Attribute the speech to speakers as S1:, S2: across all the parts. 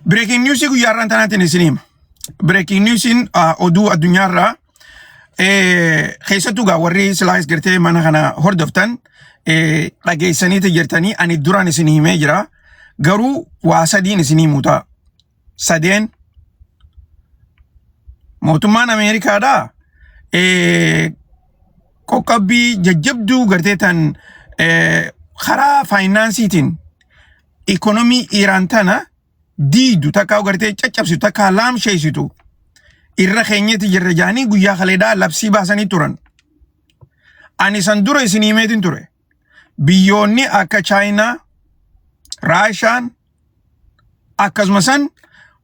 S1: Breaking news guyyaa irraan tanaatiin isin hima. Breaking newsiin oduu addunyaa irraa keessattuu gaa warri silaayis gartee mana kana hordoftan dhageessaniiti jirtanii ani duraan isin himee jira. Garuu waa sadiin isin himu ta'a. Sadeen mootummaan Ameerikaadhaa qoqqabbii jajjabduu gartee tan karaa faayinaansiitiin ikonomii Iiraan tana diidu takkaa gartee caccabsitu takkaa laamsheessitu irra keenyatti jirra jaanii guyyaa kaleedhaa labsii baasanii turan. Ani san dura isin himeetiin ture. Biyyoonni akka Chaayinaa, Raashaan akkasuma san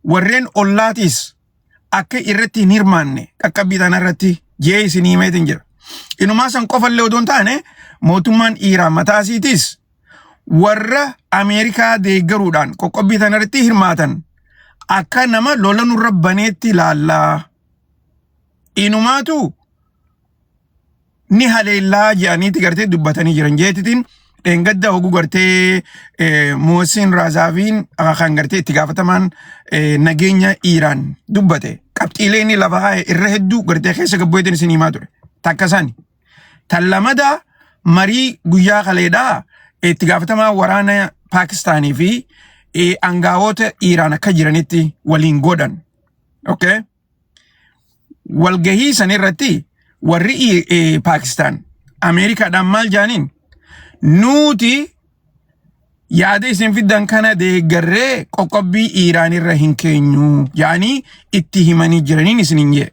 S1: warreen ollaatiis akka irratti hin hirmaanne qaqqabbii tana irratti jee isin himeetiin jira. Inumaa san qofallee odoo hin taane mootummaan Iiraan mataa isiitiis warra Ameerikaa deeggaruudhaan qoqqobbii tana irratti hirmaatan akka nama lola nurra baneetti ilaallaa. Inumaatu ni haleellaa jedhaniiti gartee dubbatanii jiran jeetitiin dheengadda oguu gartee Mohsin Raazaaviin kan gartee itti gaafatamaan nageenya Iiraan dubbate qabxiilee inni lafa haa'e irra hedduu gartee keessa gabboeetiin isin himaa ture takka isaani. Tan lamada marii guyyaa kaleedhaa itti gaafatamaa waraana Paakistaanii fi aangawoota Iiraan akka jiranitti waliin godhan. Okay? walgahii san irratti warri I- eh, Paakistaan Ameerikaadhaan maal jaaniin nuuti yaada isin fiddan kana deeggarree qoqqobbii Iiraan irra hin keenyu yaanii itti himanii jiraniin isin hin jee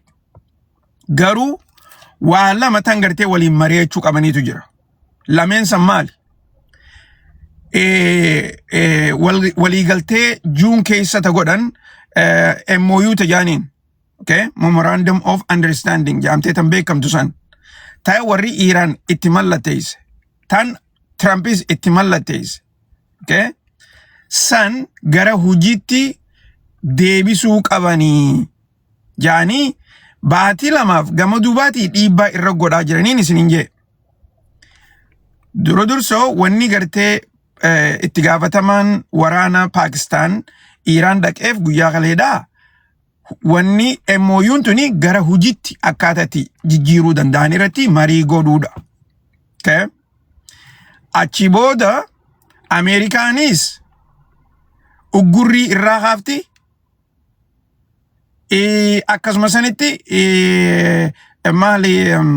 S1: garuu waa lama tan gartee waliin mari'achuu qabaniitu jira. lameen san maali? Eh, eh, wal- Waliigaltee juun keessa ta godhan eh, MOU ta jaaniin okay? Memorandum of Understanding jaamtee tan beekamtu san ta warri Iiraan itti mallatteesse tan Tirampis itti mallatteesse okay? san gara hojiitti deebisuu qabanii jaanii baatii lamaaf gama duubaatii dhiibbaa irra godhaa jiraniin isiniin jee. Dura dursoo wanni gartee eh, itti gaafatamaan waraana Paakistaan Iiraan dhaqeef guyyaa kaleedhaa wanni MOUn tuni gara hojiitti akkaataa itti jijjiiruu danda'an irratti marii godhuudha. Okay? Achi booda Ameerikaanis uggurrii irraa kaafti Eh, akkasuma sanitti eh, maali em,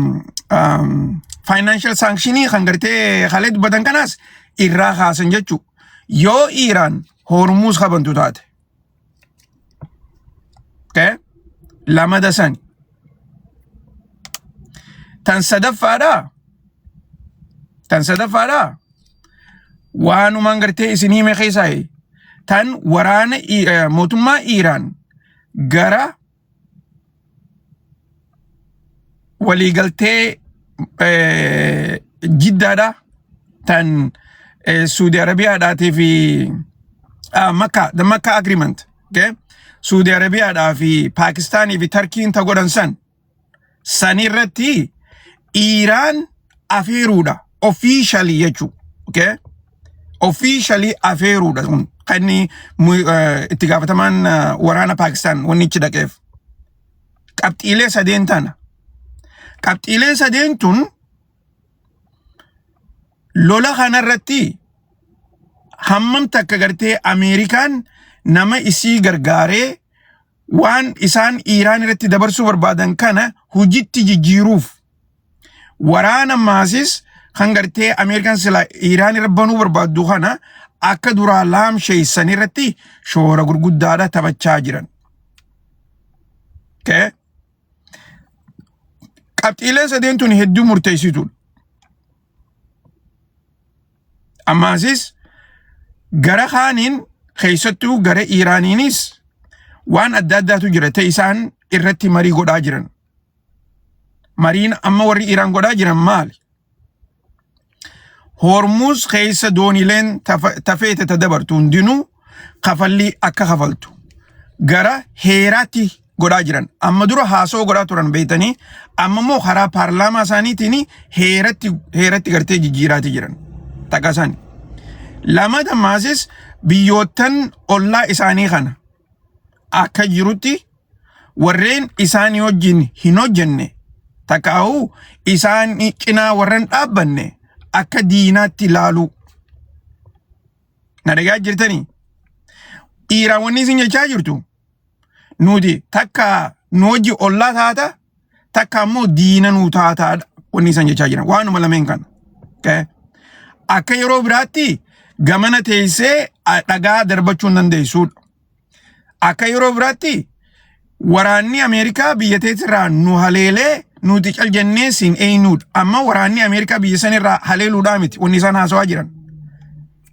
S1: em, financial sanctionii kan gartee halee dubbatan kanaas irraa kaasan jechuu yoo Iiraan hormuus kabantu taate okay? lamada sani tan sadaffaadha tan sadaffaadha waanumaan gartee isin hime keessaa tan waraana mootummaa Iiraan gara waliigaltee jiddaadha tan Suudi Arabiyaadhaatii fi Makkaa, the Makkaa agreement, okay? Suudi Arabiyaadhaa fi Paakistaanii fi Tarkiin ta godhan san Sani irratti Iiraan afeeruudha. Officially jechuu. Okay? Officially afeeruudha kun. Kan inni mu- eh, itti gaafatamaan eh, waraana Paakistaan wanni ichi dhaqeef. Qabxiilee sadeen tana. Qabxiilee sadeen tun lola kanarratti hammam takka gartee Ameerikaan nama isii gargaaree waan isaan Iiraan irratti dabarsuu barbaadan kana hojiitti jijjiiruuf waraana maasis kan gartee Ameerikaan sila Iiraan irra banuu barbaaddu kana akka duraa laamsheessan irratti shoora gurguddaadha taphachaa jiran. Okay. Qabxiileen sadeen tun hedduu murteessituudha. Ammaasis gara kaaniin keessattuu gara Iiraaniinis waan adda addaatu jira ta'e isaan irratti marii godhaa jiran. Mariin amma warri Iiraan godhaa jiran maali? Hormuuz keessa doonileen tafeete ta dabartu hundinuu kafallii akka kafaltu gara heeraatti godhaa jiran. Amma dura haasoo godhaa turan beektanii amma immoo karaa paarlaamaa isaaniitiin heeratti heeratti gartee jijjiiraatii jiran. Takka isaani. Lama dammaasis biyyoottan ollaa isaanii kana akka jirutti warreen isaanii wajjin hin hojjenne takkaa'uu isaan cinaa warreen dhaabbanne akka diinaatti laaluu Na dhagaa jirtanii? Dhiiraan wanni isin jechaa jirtu nuti takka nu hojii ollaa taata takka ammoo diina nu taataadha wanni isin jechaa jiran waanuma lameen kana. Okay? Akka yeroo biraatti gamana teessee a- dhagaa darbachuu hin dandeessuudha. Akka yeroo biraatti waraanni Ameerikaa biyya teetirraa nu haleelee nuti cal jennee siin eeynuudha. Amma waraanni Ameerikaa biyya sanirraa haleeluudhaa miti wanni isaan haasawaa jiran.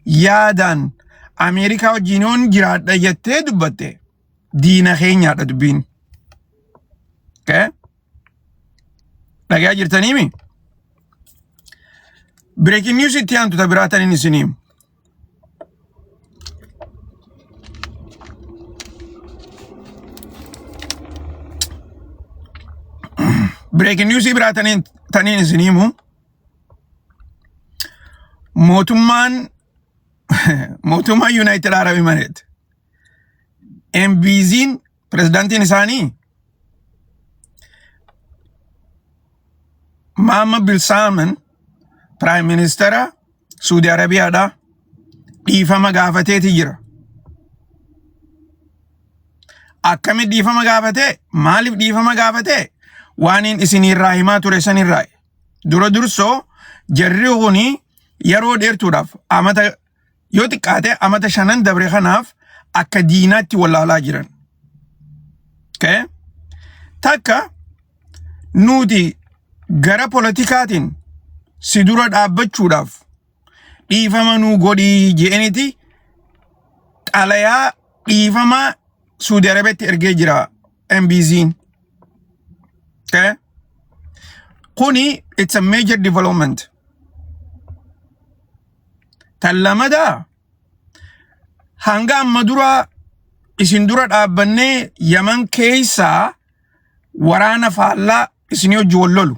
S1: Yaadaan Ameerikaa wajjin yoon jiraadha jettee dubbatte diina keenyaadha dubbiin. Okay? Dhagaa jirtaniimi? Breaking news itti aantu ta biraa tanin isiniim. Breaking news biraa taniin taniin isin himu mootummaan mootummaan Yuunaayitid Arab Imareet MBZ'n Pirezidaantiin isaanii Maamma Bil Saaman Piraayim Ministeera Suudi Arabiyaadhaa dhiifama gaafateeti jira. Akkami dhiifama gaafatee? Maaliif dhiifama gaafatee? Waaniin isiniirraa himaa ture sanirraa. Dura dursoo jarri kuni yeroo dheertuudhaaf amata yoo xiqqaate amata shanan dabre kanaaf akka diinaatti wallaalaa jiran. Okay? Takka nuti gara politikaatiin si dura dhaabbachuudhaaf dhiifama nuu godhii je'eniti xalayaa dhiifamaa Suudi Arabiyaatti ergee jira MBZin. Okay? Kuni it's a major development. Tan lamada hanga amma dura isin dura dhaabbannee Yaman keessaa waraana faallaa isin hojii wal lolu.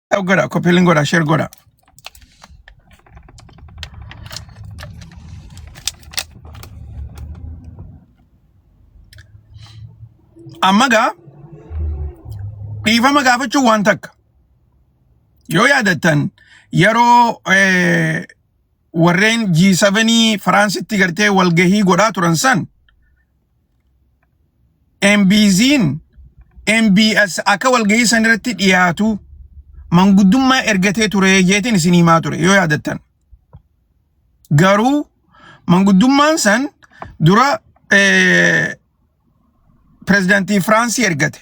S1: Share godha, copy link godha, share godha. Amma gaa dhiifama gaafachuun waan takka. Yoo yaadattan yeroo eh, warreen G7 Firaansitti gartee walgahii godhaa turan san MBZiin MBS akka walgahii san irratti dhiyaatu manguddummaa ergatee ture jeetiin isin himaa ture yoo yaadattan. Garuu manguddummaan san dura pirezidaantii Firaansii ergate.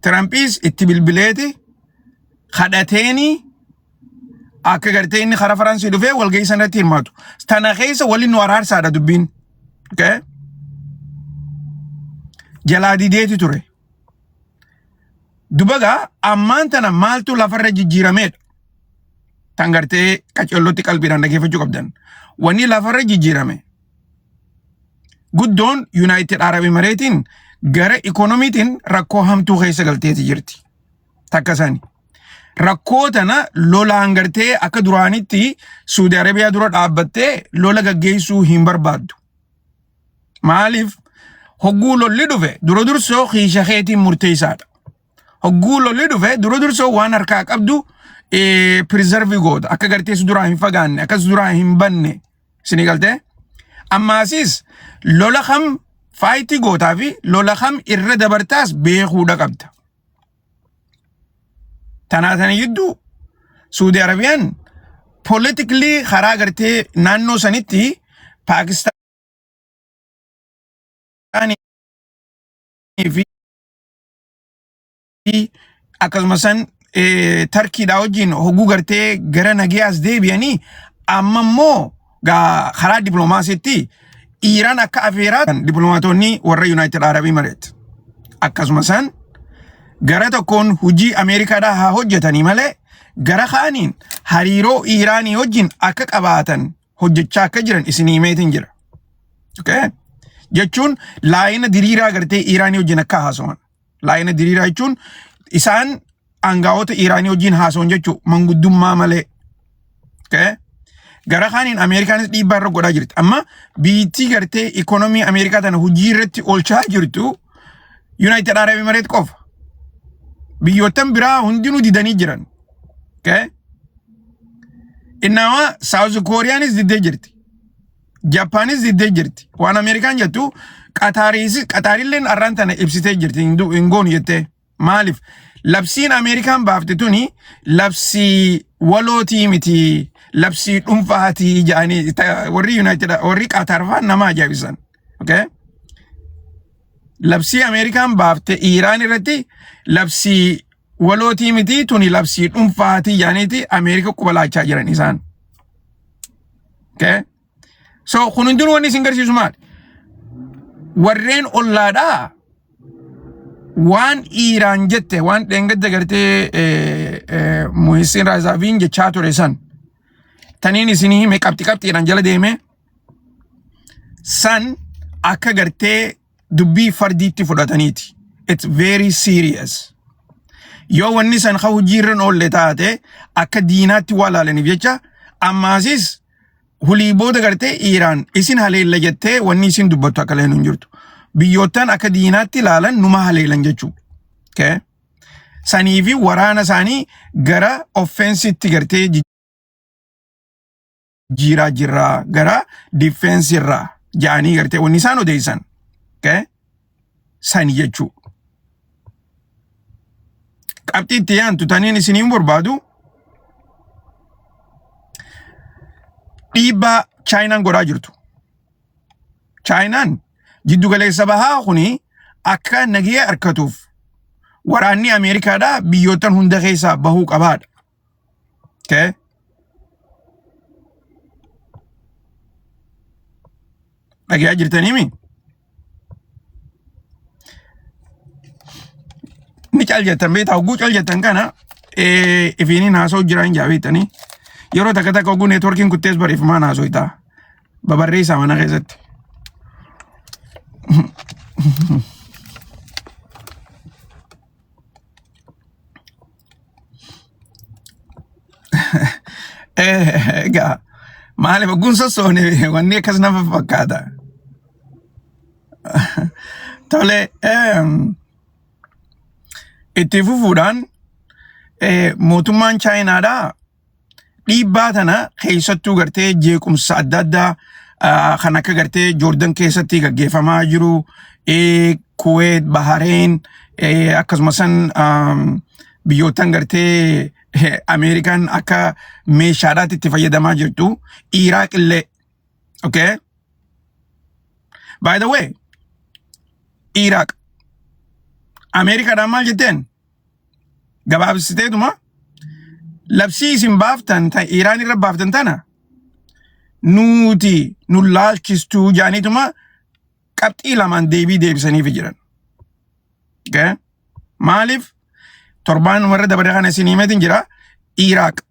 S1: Tirampis itti bilbileeti kadhateeni akka gartee inni karaa Faransii dhufee walgahii sana irratti hirmaatu. Tana keessa waliin nu araarsaadha dubbiin. Okay? Jalaa dideeti ture. Dubagaa ammaan tana maaltu lafarra jijjiirameedha. Tan gartee qacollotti qalbiidhaan dhageeffachuu qabdan. Wanni lafarra jijjiirame. guddoon Yuunaayitid Arab Emireetiin gara ikoonomiitiin rakkoo hamtuu keessa galteeti jirti. Takka sani. Rakkoo tana lolaan gartee akka duraanitti Suudi Arabiyaa dura dhaabbattee lola gaggeessuu hin barbaaddu. Maaliif? Hogguu lolli dhufe dura dursoo kiisha keetiin murteessaadha. Hogguu lolli dhufe dura dursoo waan harkaa qabdu pirizarvii goota. Akka gartee si duraa hin fagaanne akka si duraa hin banne isinii galtee. Ammaasiis lola kam faayitii gootaa fi lola kam irra dabartaas beekuudha qabda. Tanaa tana jidduu Suudi Arabiyaan politikli karaa gartee naannoo sanitti Paakistaan fi akkasuma san eh, tarkiidhaa wajjin hogguu gartee gara nageeyaas deebi'anii amma immoo gaa- karaa diploomaasiitti Iiraan akka afeeraa diploomaatonni warra Yuunaayitid Arabii mareet. Akkasuma san gara tokkoon hojii Ameerikaadhaa haa hojjetanii malee gara kaaniin hariiroo Iiraanii wajjin akka qabaatan hojjechaa akka jiran isin himeetiin jira. Okay? Jechuun laayina diriiraa gartee Iiraanii wajjin akka haasawan. Laayina diriiraa jechuun isaan aangaa'ota Iiraanii wajjin haasawan jechuun manguddummaa malee. Okay? Gara kaaniin Ameerikaanis dhiibbaa irra godhaa jirti. Amma biyyittii gartee ikoonomii Ameerikaa tana hojii irratti oolchaa jirtu Yuunaayitid Arab Emireet qofa. Biyyoottan biraa hundinuu didanii jiran. Okay? Innaawa Saawuz Kooriyaanis diddee jirti. Jappaanis diddee jirti. Waan Ameerikaan jettu Qataariis Qataarilleen arraan tana ibsitee jirti hin du- hin goonu jettee. Maaliif? Labsiin Ameerikaan baafte tuni labsii walootii miti. Labsii dhuunfaatii jedhanii ta- warri Yuunaayitid warri Qataar fa'aa nama ajaa'ibisan. Okay? labsii Ameerikaan baafte Iiraan irratti labsii walootii miti tuni labsii dhuunfaatii yaaniiti Ameerika qubalaachaa jiran isaan. Okay? So kun hundinuu wanni isin garsiisu maali? Warreen ollaadhaa waan Iiraan jette waan dheengadda gartee eh, eh, Muhisiin Raazaaviin jechaa ture san taniin isinii hime qabxi qabxiidhaan jala deemee san akka gartee dubbii fardiitti fudhataniiti. It's very serious. Yoo wanni san ka hojiirra hin oolle taate akka diinaatti waa laalaniif jecha ammaasis hulii booda gartee Iiraan isin haleella jettee wanni isin dubbattu akka leenuun jirtu. Biyyoottan akka diinaatti laalan numa haleelan jechuudha. Okay? Sanii fi waraana isaanii gara offensitti gartee jiiraa jirraa gara difeensi irraa ja'anii gartee wanni isaan odeessan okay? sani jechuu qabxii itti yaantu taniin isiniin barbaadu dhiibbaa chaayinaan godhaa jirtu chaayinaan jiddu galeessa bahaa kuni akka nagee harkatuuf waraanni ameerikaadhaa biyyoottan hunda keessaa bahuu qabaadha Okay? Dhagaa jirtanii mi? Ni cal jettan beektaa hogguu cal jettan kana eh, ifiiniin haasa'u jiraan jaa beektanii yeroo takka takka hogguu neetworkiin kuttees barreeffamaan haasa'u ta'a. Babarreessaa mana keessatti. Eh, Egaa maaliif ogguun sossoone wanni akkas nama fakkaata. Tole ehm, itti fufuudhaan eh, mootummaan Chaayinaadhaa Dhiibbaa tana keessattuu gartee jeequmsa adda addaa ah, kan akka gartee Joordan keessatti gaggeeffamaa jiru, eh, Kuweet, Bahareen, eh, akkasuma san am, biyyootan gartee eh, Ameerikaan akka meeshaadhaatti itti fayyadamaa jirtu, Iraaq illee, okay? By the way, Iraaq, Ameerikaadhaan maal jetteen? gabaabsiteetuma labsii isin baaftan ta Iraan irra baaftan tana nuuti nu laalchistuu jaaniituma qabxii lamaan deebii deebisaniif jiran. Okay? Maaliif torbaan warra dabaree kana isin himeetiin jira Iraaq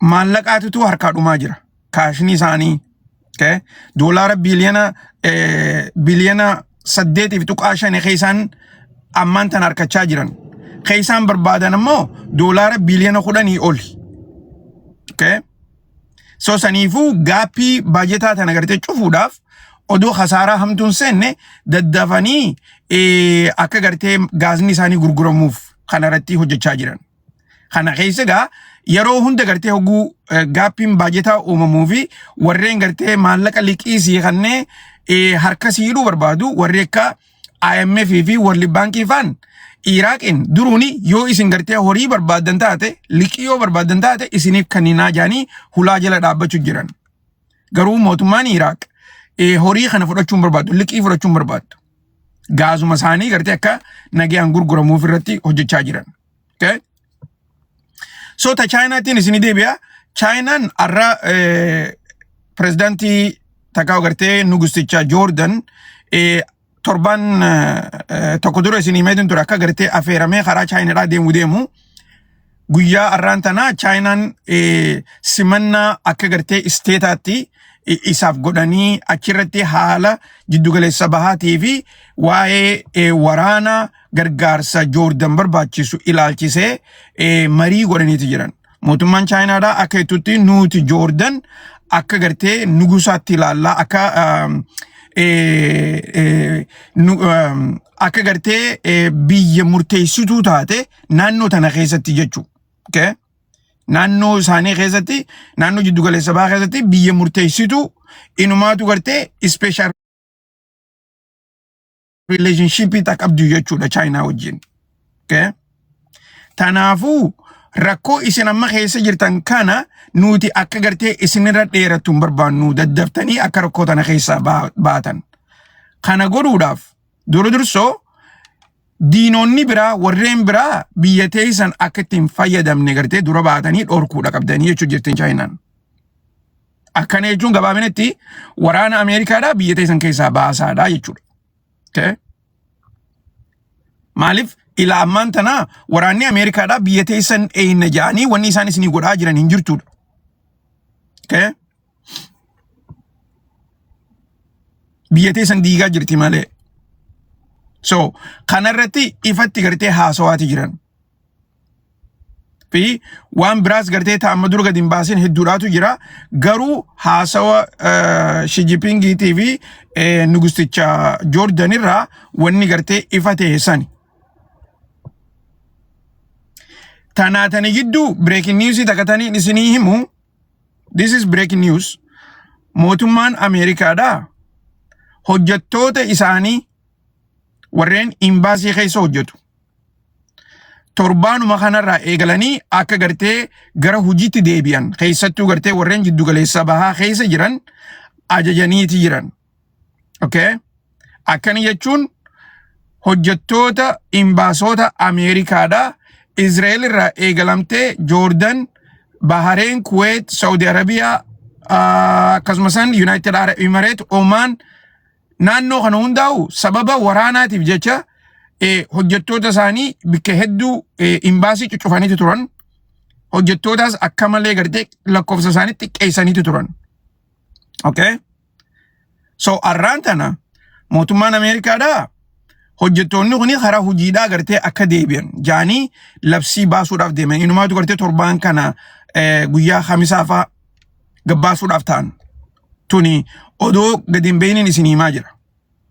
S1: maallaqaatitu harkaa dhumaa jira. Kaashni isaanii okay, doolaara biiliyoona eh, biiliyoona saddeetiif tuqaa shani keessaan ammaan tan harkachaa jiran. Keessaan barbaadan immoo doolaara biiliyoona kudhanii oli. Okay. So saniifuu gaappii baajetaa tana gartee cufuudhaaf odoo kasaaraa hamtuun seenne daddafanii eh, akka gartee gaazni isaanii gurguramuuf kanarratti hojjechaa jiran. Kana keessa egaa yeroo hunda gartee hogguu eh, gaappiin baajetaa uumamuu fi warreen gartee maallaqa liqii sii kannee eh, harka sii hidhuu barbaadu warri akka IMF fi World Bank faan Iraaqiin duruuni yoo isin gartee horii barbaadan taate liqii yoo barbaadan taate isiniif kanninaa jaanii hulaa jala dhaabbachuu jiran. Garuu mootummaan Iraaq eh, horii kana fudhachuun barbaadu liqii fudhachuun barbaadu. Gaazuma isaanii gartee akka nagaan gurguramuuf irratti hojjechaa jiran. Okay? So ta Chaayinaatiin isin deebi'a. Chaayinaan har'a pirezidaantii takkaa agartee nugusticha Joordan torban tokko dura isin himeetiin ture akka agartee afeeramee karaa Chaayinaadhaa deemu deemu. Guyyaa har'aan tana Chaayinaan simannaa akka agartee isteetaatti isaaf godhanii achirratti haala jiddugaleessa bahaatii fi waa'ee waraanaa gargaarsa Joordan barbaachisu ilaalchisee eh, marii godhaniiti jiran. Mootummaan Chaayinaadhaa akka jettutti nuti Joordan akka gartee nugusaatti ilaallaa akka um, eh, eh, nu- um, akka gartee eh, biyya murteessituu taate naannoo tana keessatti jechuu. Okay? naannoo isaanii keessatti naannoo jiddu galeessa bahaa keessatti biyya murteessitu inumaatu gartee ispeeshaal rileeshinshiipii ta'a qabdu jechuudha chaayinaa wajjin. Okay? Tanaafuu rakkoo isin amma keessa jirtan kana nuti akka gartee isinirra dheerattu hin barbaannu daddaftanii akka rakkoo tana keessaa baa- baatan. Kana godhuudhaaf dura dursoo diinonni biraa warreen biraa biyya teessan akka ittiin fayyadamne gartee dura baatanii dhorkuudha qabdanii jechuu jirtin chaayinaan. Akkana jechuun gabaabinetti waraana Ameerikaadhaa biyya teessan keessaa baasaadha jechuudha. Okay? Maaliif ilaa ammaan tanaa waraanni Ameerikaadhaa biyya teessan eeyna ja'anii wanni isaan isinii godhaa jiran hin jirtuudha. Okay? Biyya teessan diigaa jirti malee. So kanarratti ifatti gartee haasawaati jiran. fi waan biraas gartee ta'a amma dura gadi hin baasin hedduudhaatu jira garuu haasawa shijipingiitii fi nugusticha joordan irraa wanni gartee ifa ta'e sani. Tanaa tani gidduu breaking news takka taniin isinii himu this is breaking news mootummaan Ameerikaadhaa hojjettoota isaanii warreen imbaasii keessa hojjetu torbaanuma kanarraa eegalanii akka gartee gara hojiitti deebi'an keessattuu gartee warreen jiddu galeessa bahaa keessa jiran ajajaniiti jiran. Okay? Akkana jechuun hojjettoota imbaasoota Ameerikaadha Izraa'el irraa eegalamtee Joordan, Bahareen, Kuweet, Saudi Arabiyaa ah, akkasumas Yuunaayitid Arab Imareet, Omaan naannoo kana hundaa'u sababa waraanaatiif jecha eh, hojjettoota isaanii bakka hedduu eh, imbaasii cuccufaniiti turan. Hojjettootaas akka malee gartee lakkoofsa isaanii xiqqeessaniiti turan. Okay? So arraan tana mootummaan Ameerikaadhaa hojjettoonni kun karaa hojiidhaa gartee akka deebi'an jaanii labsii baasuudhaaf deeman. Inumaatu gartee torbaan kana eh, guyyaa hamisaa fa'aa gabbaasuudhaaf ta'an. tuni odoo gadi hin beeyniin isin himaa jira.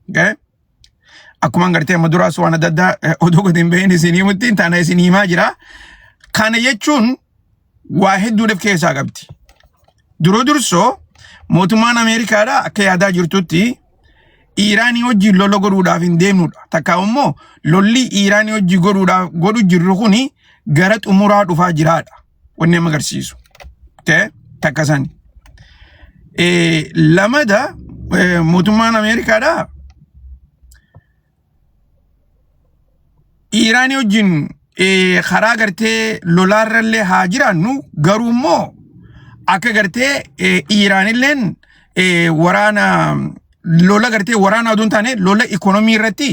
S1: Okay? Akkuma gartee amma duraas waan adda addaa eh, odoo gadi hin beeyniin isin himutti taana isin himaa jira. Kana jechuun waa hedduudhaaf keessaa qabdi. Duroo dursoo mootummaan Ameerikaadha akka yaadaa jirtutti Iiraanii wajjin lola godhuudhaaf hin deemnudha. Takka immoo lolli Iiraanii wajjin godhuudhaaf godhu jirru kuni gara xumuraa dhufaa jiraadha. wanni amma agarsiisu ta'e takka sani. Eh, Lamada eh, mootummaan Ameerikaadhaa Iiraanii wajjin eh, karaa gartee lolaarrallee haa jiraannu garuu immoo akka gartee eh, Iiraanilleen eh, waraana lola gartee waraana oduu hin taane lola ikoonomii irratti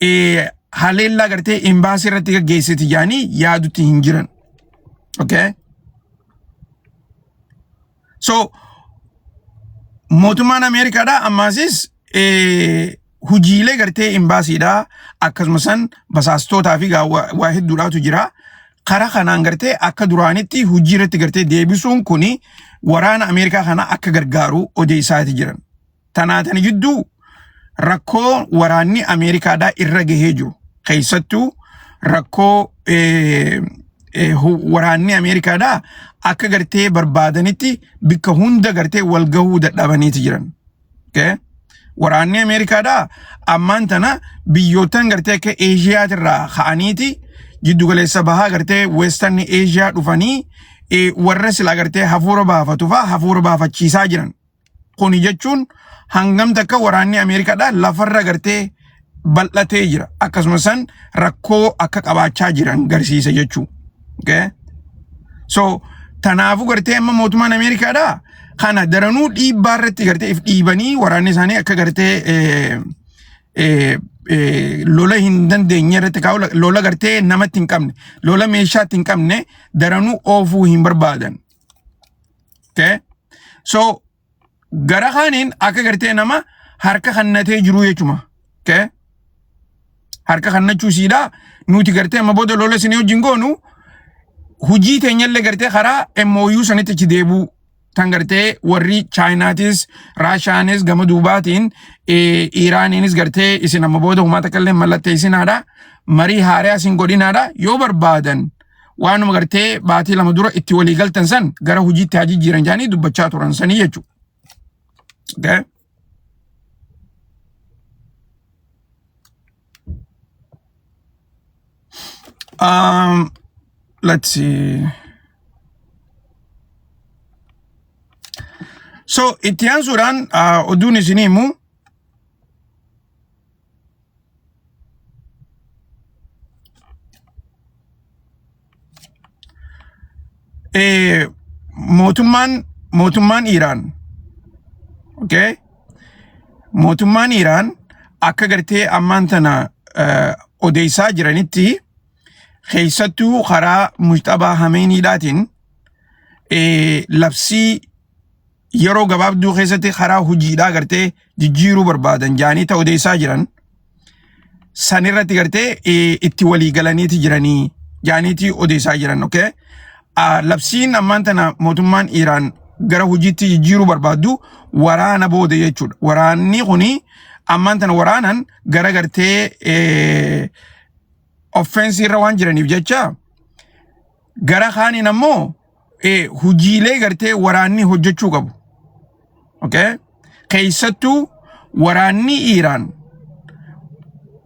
S1: eh, haleellaa gartee imbaasii irratti gaggeessiti jaanii yaadutti hin jiran. Okay? So, mootummaan Ameerikaadha ammaasis eh, hojiilee gartee imbaasiidha akkasuma san basaastootaa fi gaa- waa waa hedduudhaatu jira. Karaa kanaan gartee akka duraanitti hojii irratti gartee deebisuun kuni waraana Ameerikaa kana akka gargaaru odeessaati jiran. tanaa tana jidduu rakkoo waraanni Ameerikaadhaa irra gahee jiru keessattuu rakkoo eh, eh, hu- waraanni Ameerikaadhaa akka gartee barbaadanitti bikka hunda gartee wal gahuu dadhabaniiti jiran. Okay? Waraanni Ameerikaadhaa ammaan tana biyyoottan gartee akka Eeshiyaatirraa ka'aniiti jiddugaleessa bahaa gartee Weestarni Eeshiyaa dhufanii eh, warra silaa gartee hafuura baafatu fa'aa hafuura baafachiisaa jiran. Kuni jechuun hangam takka waraanni Ameerikaadhaa lafarra gartee bal'atee jira. Akkasuma san rakkoo akka qabaachaa jiran garsiisa jechuu. Okay? So tanaafuu gartee amma mootummaan Ameerikaadhaa kana daranuu dhiibbaa irratti gartee if dhiibanii waraanni isaanii akka gartee eh, eh, eh, lola hin dandeenye irratti kaa'u lola gartee namatti hin qabne lola meeshaatti hin qabne daranuu oofuu hin barbaadan. Okay? So gara kaaniin akka gartee nama harka kannatee jiru jechuudha. Okay? Harka kannachuu siidhaa nuti gartee amma booda lola isinii wajjin goonu hujii teenyallee gartee karaa MOU sanitti achi deebuu tan gartee warri chaayinaatis raashaanis gama duubaatiin eh, iiraaniinis gartee isin amma booda humaa takka illee mallatteessinaadha marii haaraa isin godhinaadha yoo barbaadan waanuma gartee baatii lama dura itti walii galtan san gara hojiitti haa jijjiiran jedhanii dubbachaa turan sanii jechuudha. Okay? Um, let's see. So itti aansuudhaan uh, oduun isinii immoo Eh, mootummaan mootummaan Iiraan okay? mootummaan Iiraan akka gartee ammaan tana eh, odeessaa jiranitti keessattuu karaa Mujtabaa Hameeniidhaatiin eh, labsii yeroo gabaabduu keessatti karaa hojiidhaa gartee jijjiiruu barbaadan jaanii ta odeessaa jiran san irratti gartee eh, itti walii galaniiti jiranii jaaniiti odeessaa jiran okay? Ah, labsiin ammaan tana mootummaan Iraan gara hojiitti jijjiiruu barbaaddu waraana booda jechuudha. Waraanni kuni ammaan tana waraanan gara gartee eh, offensii irra waan jiraniif jecha Gara kaaniin ammoo eh, hojiilee gartee waraanni hojjechuu qabu. Okay? Keessattuu waraanni Iiraan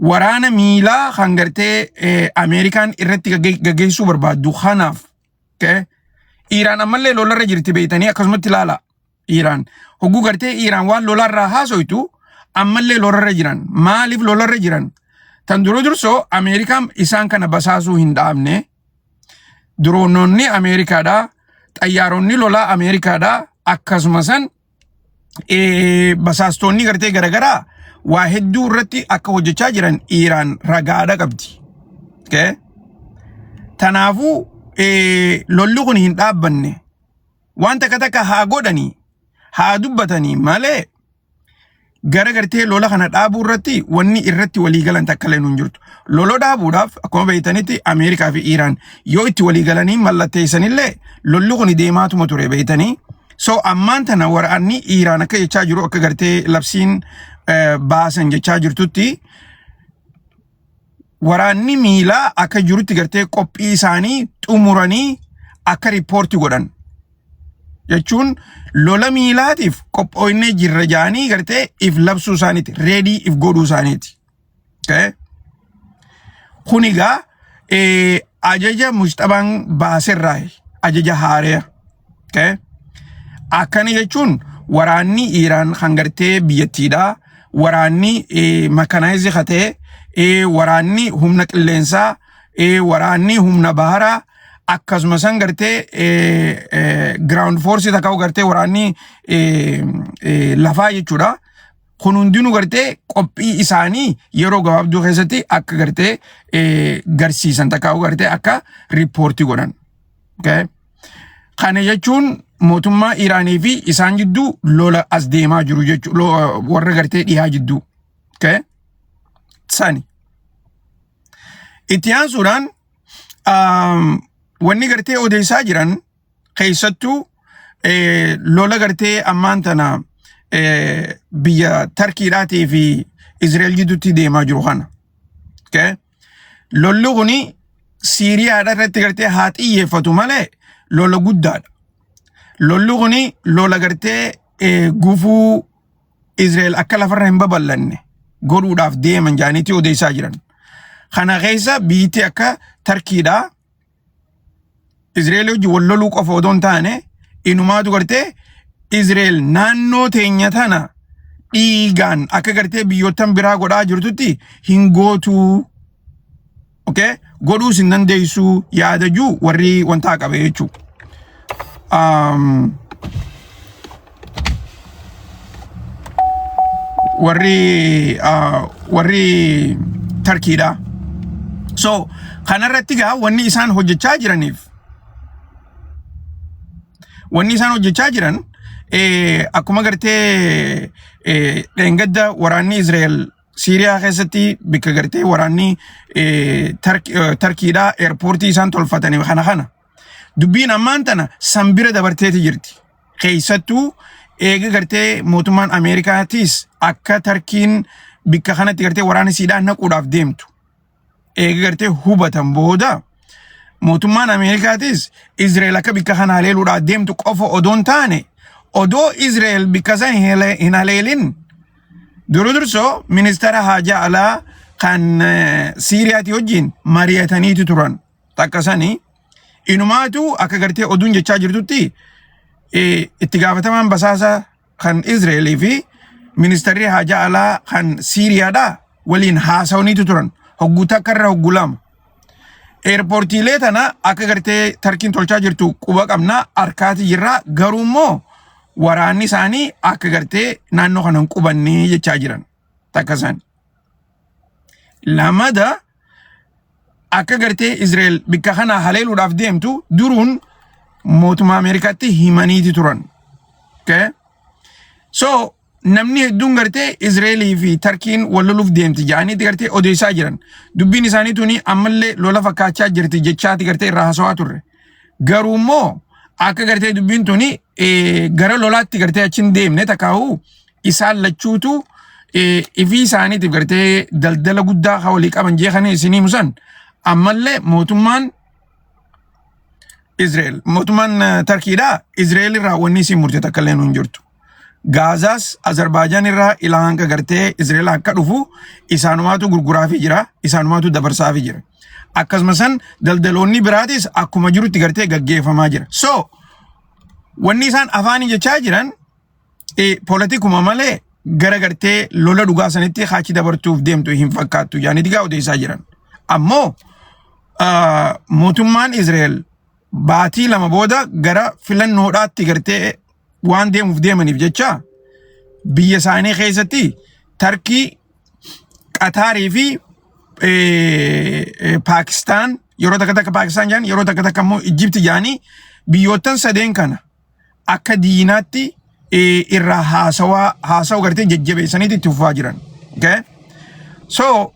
S1: waraana miilaa kan gartee eh, Ameerikaan irratti gagge- gaggeessuu barbaaddu kanaaf. Okay? Iiraan ammallee lolarra jirti beektanii akkasumatti ilaalaa. Iiraan hogguu gartee Iiraan waan lolaarraa haasoytu ammallee lolarra jiran maaliif lolarra jiran tan dura dursoo Ameerikaan isaan kana basaasuu hin dhaabne diroononni Ameerikaadha xayyaaronni lolaa Ameerikaadha akkasuma san eh, basaastoonni gartee garagaraa waa hedduu irratti akka hojjechaa jiran Iiraan ragaadha qabdi. Okay? Tanaafuu eh, lolli kun hin dhaabbanne. waan takka takka haa godhanii haa dubbatanii malee gara gartee lola kana dhaabuu irratti wanni irratti walii galan takka illee hin jirtu. Lola dhaabuudhaaf akkuma beektanitti Ameerikaa fi Iiraan yoo itti walii galanii mallatteessanillee lolli kun deemaatuma ture beektanii. So ammaan tana waraanni Iiraan akka jechaa jiru akka gartee labsiin eh, baasan jechaa jirtutti waraanni miilaa akka jirutti gartee qophii isaanii xumuranii akka riippoorti godhan jechuun lola miilaatiif qophooyinee jirra jaanii gartee if labsuu isaaniiti reedii if godhuu isaaniiti. Kun egaa ajaja muxxabaan baaserraa ajaja haareera. Okay? Akkana jechuun waraanni Iiraan kan gartee biyyattiidha. Waraanni makanaayizii ka ta'e, eh, waraanni humna qilleensaa, eh, waraanni humna baharaa, akkasuma san gartee eh, eh, ground force takka gartee waraanni eh, eh, lafaa jechuudha. Kun hundinuu gartee qophii isaanii yeroo gabaabduu keessatti akka gartee eh, garsiisan takka gartee akka riippoortii godhan. Okay? Kana jechuun mootummaa Iraanii fi isaan jidduu lola as deemaa jiru jechuudha. Warra gartee dhihaa jidduu. Okay? Sani. Itti aansuudhaan um, wanni gartee odeessaa jiran keessattuu eh, lola gartee ammaan tana eh, biyya Tarkiidhaatii fi Izrael jidduutti deemaa jiru kana. Okay? Lolli kuni Siiriyaadha irratti gartee haa xiyyeeffatu malee lola guddaadha. Lolli kuni lola gartee eh, gufuu Israa'el akka lafarra hin babal'anne godhuudhaaf deeman jaaniitii odeessaa jiran. Kana keessa biyyittii akka Tarkiidhaa Izraa'el wajjin wal loluu qofa odoo hin taane inumaatu gartee Izraa'el naannoo teenya tana dhiigaan akka gartee biyyoottan biraa godhaa jirtutti hin gootuu okay? godhuus hin dandeessuu yaadajuu warri wantaa qabe jechuudha. Um, warri ah, warri tarkiidha so kanarratti gaa wanni isaan hojjechaa jiraniif wanni isaan hojjechaa jiran eh, akkuma gartee eh, dheengadda waraanni Israa'el Siiriyaa keessatti bakka gartee waraanni eh, Tark- eh, Tarkiidhaa eerpoortii isaan tolfatanii kana kana dubbiin ammaan tana san bira dabarteeti jirti. keessattuu eega gartee mootummaan Ameerikaatiis akka tarkiin bikka kanatti gartee waraana siidhaan naquudhaaf deemtu eega gartee hubatan booda mootummaan Ameerikaatiis Izreel akka bikka kana haleeluudhaaf deemtu qofa odoo hin taane odoo Izreel bikka san hin haleelin duru dursoo ministeera haajaa alaa kan Siiriyaati wajjin mari'ataniiti turan. takka sani inumaatu akka gartee oduun jechaa jirtutti eh, itti gaafatamaan basaasa kan Izraelii fi ministeerri haajaa alaa kan Siiriyaadha waliin haasawaniitu turan hogguu takka irra hogguu lama. Eerpoortiilee tana akka gartee tarkiin tolchaa jirtu quba qabna harkaati jirra garuu immoo waraanni isaanii akka gartee naannoo kana hin qubannee jechaa jiran takka isaanii. Lamada akka gartee Israa'el bikka kana haleeluudhaaf deemtu duruun mootummaa Ameerikaatti himaniiti turan. Okay? So namni hedduun gartee Israa'elii fi Tarkiin wal loluuf deemti jedhaniiti gartee odeessaa jiran. Dubbiin isaanii tuni ammallee lola fakkaachaa jirti jechaati gartee irraa haasawaa turre. Garuu immoo akka gartee dubbiin tuni eh, gara lolaatti gartee achi hin deemne takaahu isaan lachuutu eh, ifii isaaniitiif gartee daldala guddaa haa walii qaban jeekanii isinii musan ammallee mootummaan Israa'el mootummaan eh, Tarkiidhaa Israa'el irraa wanni isin murte takka illee nu hin jirtu. Gaazaas Azerbaajaan irraa ilaa hanga gartee Izraa'el akka dhufu isaanumaatu gurguraafii jira, isaanumaatu dabarsaafii jira. Akkasuma san daldaloonni biraatis akkuma jirutti gartee gaggeeffamaa jira. So wanni isaan afaanii jechaa jiran eh, politikuma malee gara gartee lola dhugaa sanitti haachi dabartuuf deemtu hin fakkaattu yaani digaa odeessaa jiran. Ammoo ah, mootummaan Izraa'el baatii lama booda gara filannoodhaatti gartee waan deemuuf deemaniif jecha biyya isaanii keessatti Tarkii, Qataarii fi Paakistaan yeroo takka takka Paakistaan jedhan yeroo takka takka immoo Ijjibti jedhanii biyyoottan sadeen kana akka diinaatti irraa haasawaa haasawaa gartee jajjabeessaniiti itti fufaa jiran. Okay? So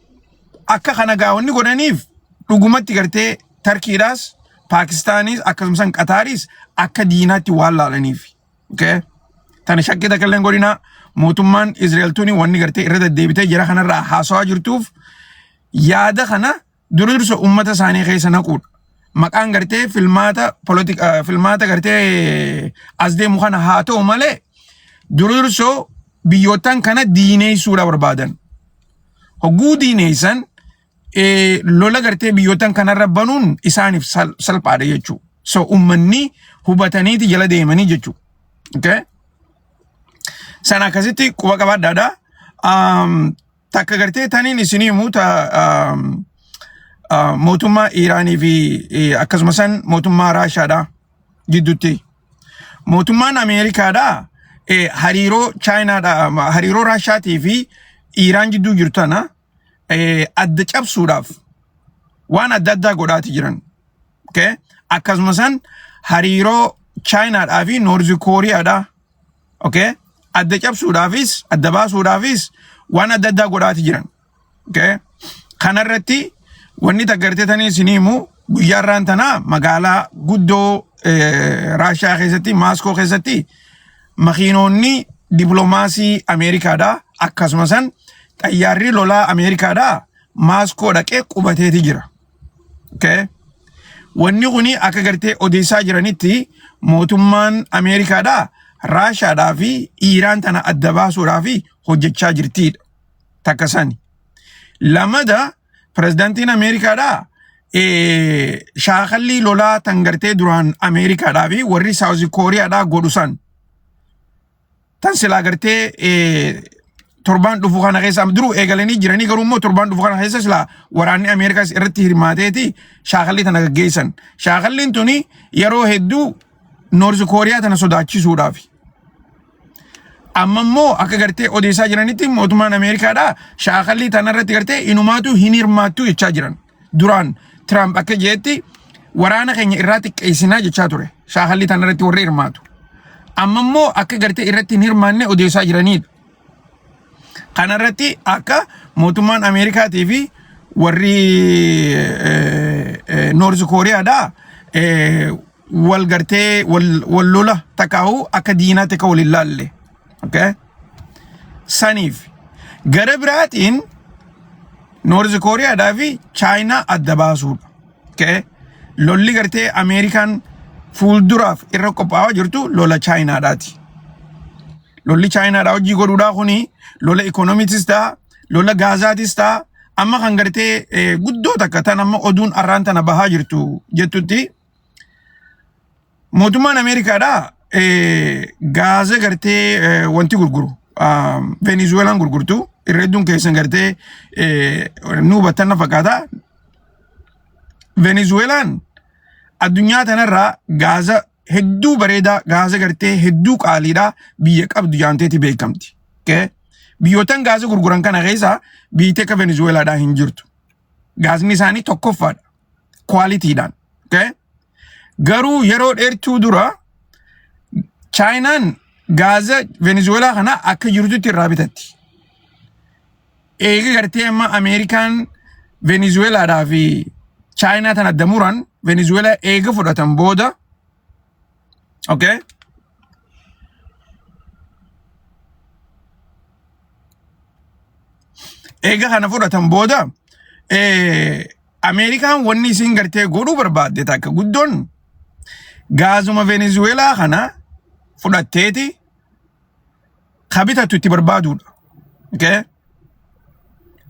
S1: akka kana gaawwanni godhaniif dhugumatti gartee Tarkiidhaas Paakistaanis akkasumas Qataaris akka diinaatti waan laalaniif. Okay? Tana shakkii takka illee hin godhinaa mootummaan Israa'el tuni wanni gartee irra deddeebitee jira kanarraa haasawaa jirtuuf yaada kana dura dursa uummata isaanii keessa naquudha. Maqaan gartee filmaata politi- eh, filmaata gartee as deemu kana haa ta'u malee dura dursoo biyyootan kana diineessuudha barbaadan. Hogguu diineessan eh, lola gartee biyyootan kanarra banuun isaaniif sal- salphaadha jechuu so ummanni hubataniiti jala deemanii jechuu okay? sana akkasitti quba qabaadhaadha um, takka gartee taniin isinii himuu ta um, uh, mootummaa iiraanii fi eh, akkasuma san mootummaa raashaadha gidduutti mootummaan ameerikaadha eh, hariiroo chaayinaadha ma- hariiroo raashaatii fi iiraan jidduu jirtu tana eh, adda cabsuudhaaf waan adda addaa godhaati jiran. Okay? Akkasuma san hariiroo Chaayinaadhaa fi Noorzi Kooriyaadhaa okay? adda cabsuudhaafis adda baasuudhaafis waan adda addaa godhaati jiran. Okay? Kanarratti wanni taggartee tanii isin himu guyyaa irraan tanaa magaalaa guddoo eh, Raashiyaa keessatti Maaskoo keessatti makiinoonni diplomaasii Ameerikaadha akkasuma san xayyaarri lolaa Ameerikaadha maaskoo dhaqee qubateeti jira. Okay. Wanni kuni akka gartee odeessaa jiranitti mootummaan Ameerikaadha Raashaadhaa fi Iiraan tana adda baasuudhaa fi hojjechaa jirtiidha. Takka sani. Lamada Pirezidantiin Ameerikaadhaa eh, shaakallii lolaa tan gartee duraan Ameerikaadhaa fi warri Saawuzi Kooriyaadhaa godhu san tan silaa gartee eh, torbaan dhufu kana keessa duruu eegalanii jiranii garuu immoo torbaan dhufu kana keessa silaa waraanni Ameerikaas irratti hirmaateeti shaakallii tana gaggeessan. Shaakalliin tuni yeroo hedduu Noorzi Kooriyaa tana sodaachisuudhaafi. Amma immoo akka gartee odeessaa jiranitti mootummaan Ameerikaadhaa shaakallii tanarratti gartee inumaatu hin hirmaattu jechaa jiran. Duraan Tiraamp akka jedhetti waraana keenya irraa xiqqeessinaa jechaa ture. Shaakallii tanarratti warri hirmaatu. Amma immoo akka gartee irratti hin hirmaanne odeessaa jiranidha. Kanarratti akka mootummaan Ameerikaatii fi warri Noorz Kooriyaadhaa wal gartee wal wal lola takaahu akka diinaatti akka wal hin laalle okay? saniif gara biraatiin noorz kooriyaadhaa fi chaayinaa adda baasuudha okay? lolli gartee ameerikaan fuulduraaf irra qophaa'aa jirtu lola chaayinaadhaati lolli chaayinaadhaa hojii godhuudhaa kuni lola ikoonomiitis ta'a lola gaazaatis ta'a amma kan gartee eh, guddoo takka tan amma oduun arraan tana bahaa jirtu jettutti Mootummaan Ameerikaadhaa eh, gaaza gartee eh, wanti gurguru ah, Venezuelaan gurgurtu irra hedduun keessan gartee eh, nu hubattan na fakkaata. Venezuelaan addunyaa tanarraa gaaza hedduu bareedaa gaaza gartee hedduu qaaliidhaa biyya qabdu jaanteeti beekamti. Okay? Biyyootan gaaza gurguran kana keessaa biyyi akka Venezuelaadhaa hin jirtu. gaasni isaanii tokkoffaadha kwaalitiidhaan. Okay? Garuu yeroo dheertuu dura chaayinaan gaaza venezuelaa kana akka jirtutti irraa bitatti. Eega gartee amma Ameerikaan venezuelaadhaa fi chaayinaa tana damuran venezuelaa eega fudhatan booda Okay? Eega kana fudhatan booda eh, Ameerikaan wanni isin gartee godhuu barbaadde takka guddoon gaazuma Venezuelaa kana fudhatteeti ka bitatu itti barbaaduudha. Okay?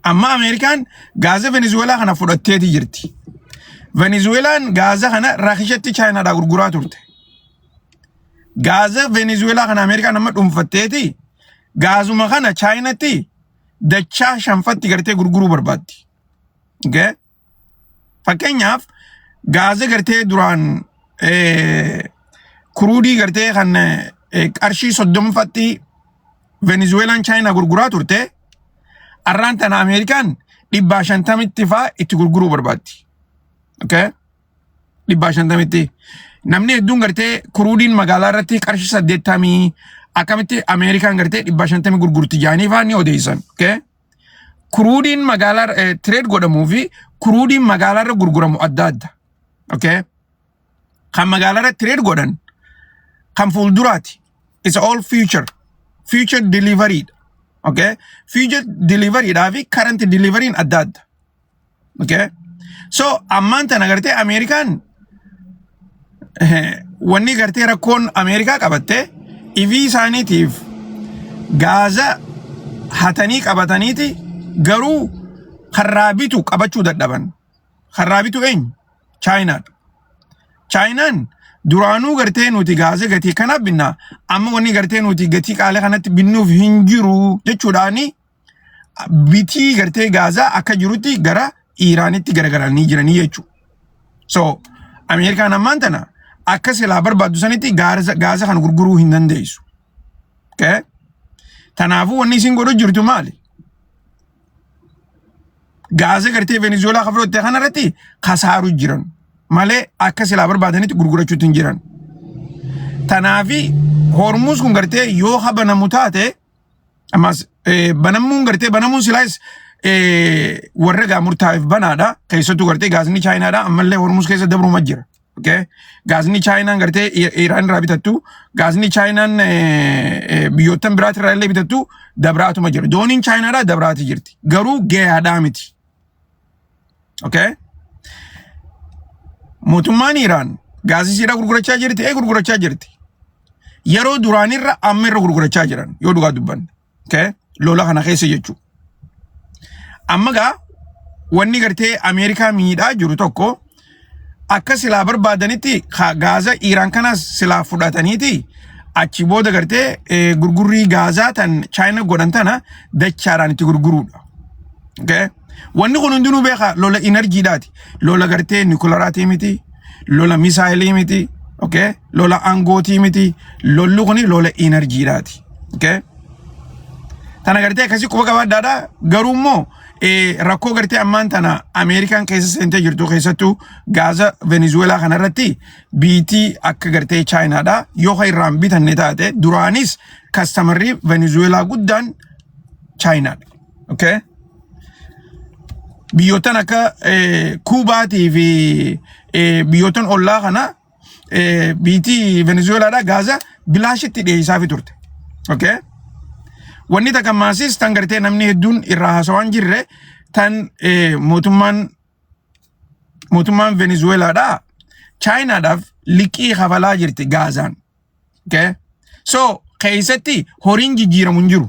S1: Amma Ameerikaan gaaza Venezuweelaa kana fudhatteeti jirti. Venezuweelaan gaaza kana Raashiyatti Chaayinaadhaa gurguraa turte. Gaaza Venezuweelaa kana Ameerikaan amma dhuunfatteeti gaazuma kana Chaayinatti dachaa shanfatti gartee gurguruu barbaaddi. Okay? Fakkeenyaaf gaaza gartee duraan kuruudii gartee kan qarshii soddomfatti Venezuelaan Chaayinaa gurguraa turte arraan tana Ameerikaan dhibbaa shantamitti faa itti gurguruu barbaaddi. Okay? Dhibbaa shantamitti. Namni hedduun gartee kuruudiin magaalaa irratti qarshii saddeettamii akkamitti Ameerikaan gartee dhibbaa shantamii gurgurti jaanii faa ni odeessan. Okay? Kuruudiin magaalaa tireed godhamuu fi kuruudiin magaalaa irra gurguramu adda adda. Okay? Kan magaalaa irra tireed godhan kan fuulduraati. It's all future. Future delivery. Okay? Future delivery dhaa fi current delivery adda adda. Okay? So ammaan tana gartee Ameerikaan eh, wanni gartee rakkoon Ameerikaa qabatte ifii isaaniitiif gaaza hatanii qabataniiti garuu karraa bitu qabachuu dadhaban. Karraa bitu eenyu? Chaayinaadha. Chaayinaan duraanuu gartee nuti gaaza gatii kana binna amma wanni gartee nuti gatii qaalii kanatti binnuuf hin jiru jechuudhaani bitii gartee gaazaa akka jirutti gara iiraanitti garagaranii jiranii jechuudha. So Ameerikaan ammaan tana akka silaa barbaaddu sanitti gaarza- gaaza kan gurguruu hin dandeessu. Okay? Tanaafuu wanni isin godhu jirtu maali? Gaaza gartee Venezuelaa kan fudhatte kanarratti kasaaru jiran malee akka silaa barbaadanitti gurgurachuutti hin jiran. Tanaafi hormuus kun gartee yoo habanamu taate Ammas eh, banamuun gartee banamuun silaas eh, warra gaa murtaa'eef banaadha. Keessattuu gartee gaasni Chaayinaadha. Ammallee Hormuus keessa dabruuma jira. Okay? Gaasni Chaayinaan gartee I- Iraan irraa bitattu, gaasni Chaayinaan eh, eh, biyyoottan biraati irraa illee bitattu dabraatuma jira. Dooniin Chaayinaadhaa dabraati jirti. Garuu gahaadhaa miti. Okay? Mootummaan Iraan gaazisiidha gurgurachaa jirti, ee gurgurachaa jirti. Yeroo duraanirra amma irra gurgurachaa jiran yoo dhugaa dubbanne. Okay? Lola kana keessa jechuudha. Amma gaa wanni gartee Ameerikaa miidhaa jiru tokko akka silaa barbaadanitti ka- gaaza Iiraan kanas silaa fudhataniiti achi booda gartee eh, gurgurrii gaazaa tan Chaayina godhan tana dachaadhaan itti gurguruudha. Okay? Wanni kun hundinuu beeka lola inarjiidhaati. Lola gartee nikularaati miti, lola misaayilii miti, okay? lola aangootii miti, lolli kun lola inarjiidhaati. Okay? Tana gartee akkasii quba qabaadhaadha garuu immoo eh, rakkoo gartee ammaan tana Ameerikaan keessa seentee jirtu keessattuu gaaza Venezuelaa kana irratti biitii akka gartee Chaayinaadha yoo kan irraan bitanne taate duraanis kastamarrii Venezuelaa guddaan Chaayinaadha. Okay? Biyyoottan akka eh, Kuubaatii fi eh, biyyoottan ollaa kana eh, biitii Venezuelaadhaa Gaazaa bilaashitti dhiyeessaafi turte. Okay? Wanni takka maasis tan gartee namni hedduun irraa haasawaa hin jirre tan eh, mootummaan mootummaan Venezuelaadhaa Chaayinaadhaaf liqii kafalaa jirti Gaazaan. Okay? So keessatti horiin jijjiiramu hin jiru.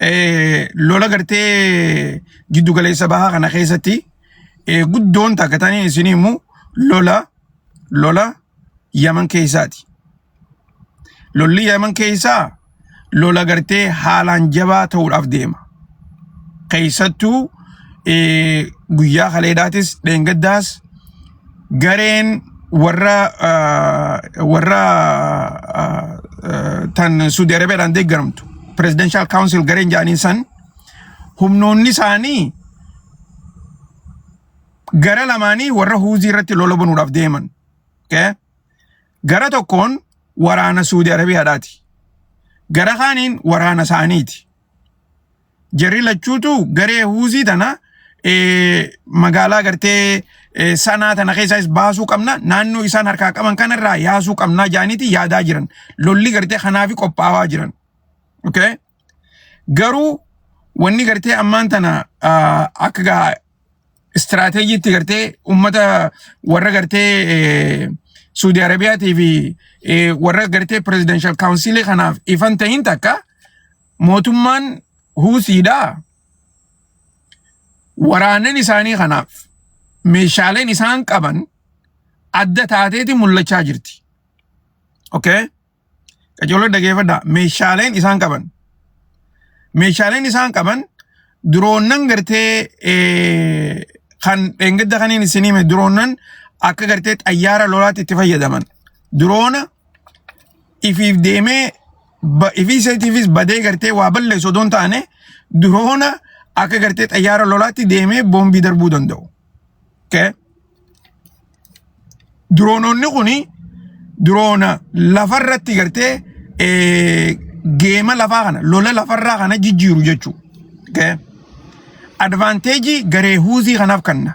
S1: eh, lola gartee jiddu galeessa bahaa kana keessatti eh, guddoon takka tanii isin himu lola lola yaman keessaati. Lolli yaman keessaa lola gartee haalaan jabaa ta'uudhaaf deema. Keessattuu eh, guyyaa kaleedaatis dheengaddaas gareen warra ah, warra ah, ah, tan Suudi Arabiyaadhaan deeggaramtu Presidential Council gareen jedhaniin san humnoonni isaanii gara lamaanii warra huuzii irratti lola banuudhaaf deeman. Okay? Gara tokkoon waraana Suudi Arabiyaadhaati. Gara kaaniin waraana isaaniiti. Jarri lachuutu garee huuzii tana eh, magaalaa gartee eh, sanaa tana keessaas baasuu qabna naannoo isaan harkaa qaban kanarraa yaasuu qabnaa jaaniiti yaadaa jiran lolli gartee kanaafi qophaawaa jiran. Okay? Garuu wanni gartee ammaan tana ah, akka gaa istiraateejiitti gartee ummata warra gartee eh, Suudi Arabiyaatii fi eh, warra gartee pirezidenshal kaawunsilii kanaaf ifan tahin takka mootummaan Huusiidha. Waraannan isaanii kanaaf meeshaaleen isaan qaban adda taateeti mul'achaa jirti. Okay? Qajeeloo dhageeffadhaa. Meeshaaleen isaan qaban. Meeshaaleen isaan qaban diroonnan gartee eh, kan dheengadda kaniin isin hime diroonnan akka gartee xayyaara lolaatti itti fayyadaman. Diroona ifiif deemee ba- ifii isheetiifis badee gartee waa balleessu odoo hin taane diroona akka gartee xayyaara lolaatti deemee boombii darbuu danda'u. Okay? Diroonoonni kun diroona lafarratti gartee eh, geema lafaa kana lola lafarraa kana jijjiiru jechuudha. Okay? Advaanteejii garee huuzii kanaaf kanna.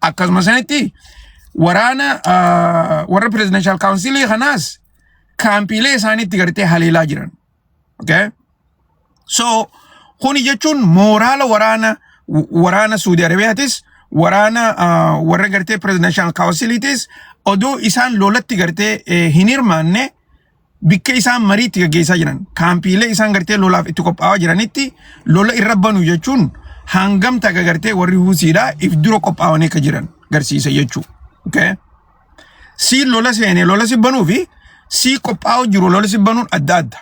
S1: akkasuma sanitti waraana ah, warra pirezidanshaal kaawunsilii kanaas kaampiilee isaaniitti gartee haleelaa jiran. Okay? So kuni jechuun mooraala waraana w- waraana Suudi Arabiyaatis waraana ah, warra gartee pirezidanshaal kaawunsiliitis odoo isaan lolatti gartee eh, hin hirmaanne bikka isaan marii itti gaggeessaa jiran kaampiilee isaan gartee lolaaf itti qophaa'aa jiranitti lola irra banu jechuun hangam taga gartee warri huusiidha if dura qophaa'anii akka jiran garsiisa jechuu. Okay? Sii lola seenee lola si banuu fi sii qophaa'u jiru lola si banuun adda adda.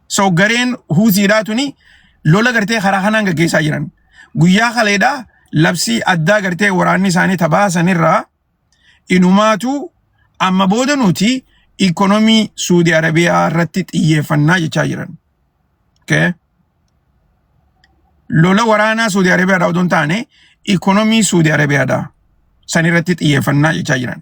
S1: So gareen huusiidhaa tuni lola gartee karaa kanaan gaggeessaa jiran. Guyyaa kaleedhaa labsii addaa gartee waraanni isaanii tabaasanirraa Inumaatuu amma booda nuti ikonomii Suudi Arabiyaa irratti xiyyeeffannaa jechaa jiran. Okay. Lola waraanaa Suudi Arabiyaadhaa odoo hin taane ikonomii Suudi Arabiyaadhaa san irratti xiyyeeffannaa jechaa jiran.